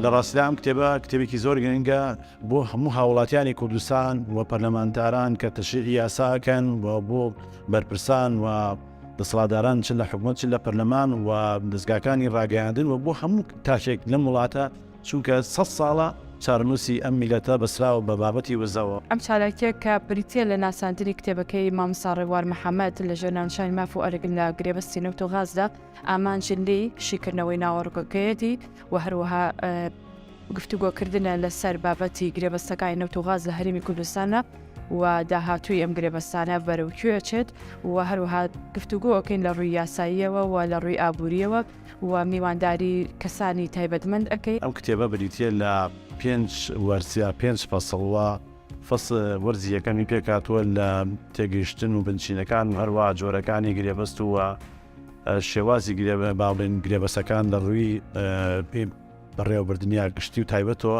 لە ڕاستیدا ئەم کتێبە کتێبێکی زۆر گرنگە بۆ هەموو هاوڵاتیانی کوردستان و پەرلەمانتاران کە تەشریعی یاساکەن و بۆ بەرپرسان و دەسڵاتداران چ لە حکومت چ لە پەرلەمان و دەستگاکانی ڕاگەیاندن و بۆ هەموو تاشێک لەم وڵاتە چونکە سەد ساڵە چارەنووسی ئەم میللەتە بەسراوە بە بابەتی وزەوە. ئەم چالاکیە کە بریتیە لە ناساندنی کتێبەکەی مامۆستا ڕێبوار محەمەد لە ژێر ناونیشانی ماف و ئەرک لە گرێبەستی نەوت و غازدا ئامانج لێی شیکردنەوەی ناوەڕۆکەکەیەتی و هەروەها گفتوگۆ کردنە لە سەر بابەتی گرێبەستەکانی نەوت و غاز لە هەرێمی کوردستانە و داهاتووی ئەم گرێبەستانە بەرەو کوێ چێت و هەروەها گفتوگۆ ئۆکەین لە ڕووی یاساییەوە و لە ڕووی ئابووریەوە و میوانداری کەسانی تایبەتمەند ئەکەی. ئەم کتێبە بریتیە لە پێنج وەرز یا پێنج فەسڵ وە فەس وەرزی یەکەمی پێکهاتووە لە تێگەیشتن و بنچینەکان و هەروەها جۆرەکانی گرێبەست و شێوازی گرێ با بڵێین گرێبەسەکان لە ڕووی بەڕێوەبردنیا گشتی و تایبەتەوە.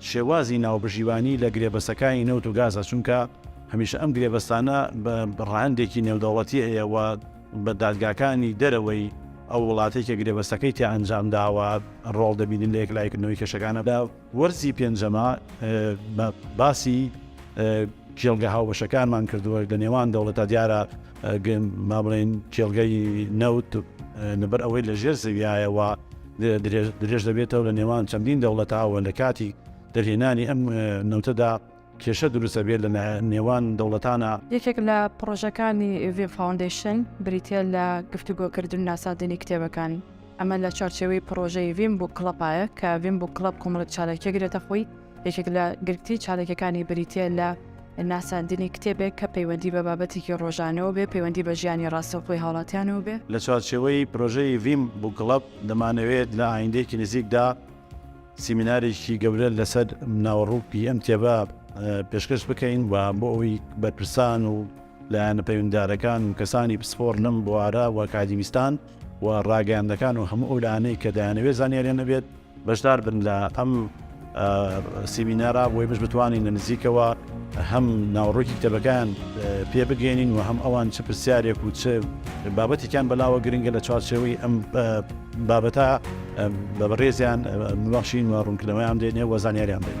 شێوازی ناوبژیوانی لە گرێبەستەکانی نەوت و گازە، چونکە هەمیشە ئەم گرێبەستانە بە ڕەهەندێکی نێودەوڵەتی هەیە و بە دادگاکانی دەرەوەی ئەو وڵاتەی کە گرێبەستەکەی تیا ئەنجام داوە ڕۆڵ دەبینن لە یەکلاییکردنەوەی کێشەکانە. لە وەرزی پێنجەمە باسی کێڵگە هاوبەشەکانمان کردووە لە نێوان دەوڵەتە دیارە، بابڵێین کێڵگەی نەوت لەبەر ئەوەی لە ژێر زەویایەوە درێژ دەبێتەوە لە نێوان چەندین دەوڵەتاوە لە کاتی دەرهێنانی ئەم نەوتەدا کێشە دروستە بێت لە نێوان دەوڵەتانە. یەکێک لە پڕۆژەکانی ڤیم فاوندەیشن بریتە لە گفتوگۆکردن و ناساندنی کتێبەکان، ئەمە لە چوارچێوەی پڕۆژەی ڤیم بووک کڵەپایە کە ڤیم بووک کڵەپ کۆمەڵێک چالاکییەک گرێتە خۆی، یەکێک لە گرنگترین چالاکیەکانی بریتیە لە ناساندنی کتێبێک کە پەیوەندی بە بابەتێکی ڕۆژانەوە بێ، پەیوەندی بە ژیانی ڕاستەوخۆی هاوڵاتیانەوە بێ. لە چوارچێوەی پرۆژەی ڤیم بووک کڵەب، دەمانەوێت لە ئایندەیەکی نزیکدا سیمینارێکی گەورە لەسەر ناوەڕووکی ئەم کتێبە پێشکەش بکەین و بۆ ئەوەی بەرپرسان و لایەنە پەیوەندیدارەکان و کەسانی پسپۆڕ لەم بوارە و ئەکادیمیستان و ڕاگەیاندنەکان و هەموو ئەو لایەنەی کە دەیانەوێت زانیاریان هەبێت، بەشدار بن لە ئەم سیمینارە بۆ ئێمەش بتوانین لە نزیکەوە هەم ناوەڕۆکی کتێبەکان پێ بگەێنین و هەم ئەوان چ پرسیارێک و چ بابەتێکیان بەلاوە گرنگە لە چوارچێوەی ئەم بابەتە بە بەڕێزیان ببەخشین و ڕوونکردنەوەیان دێنێ و زانیاریان دێن.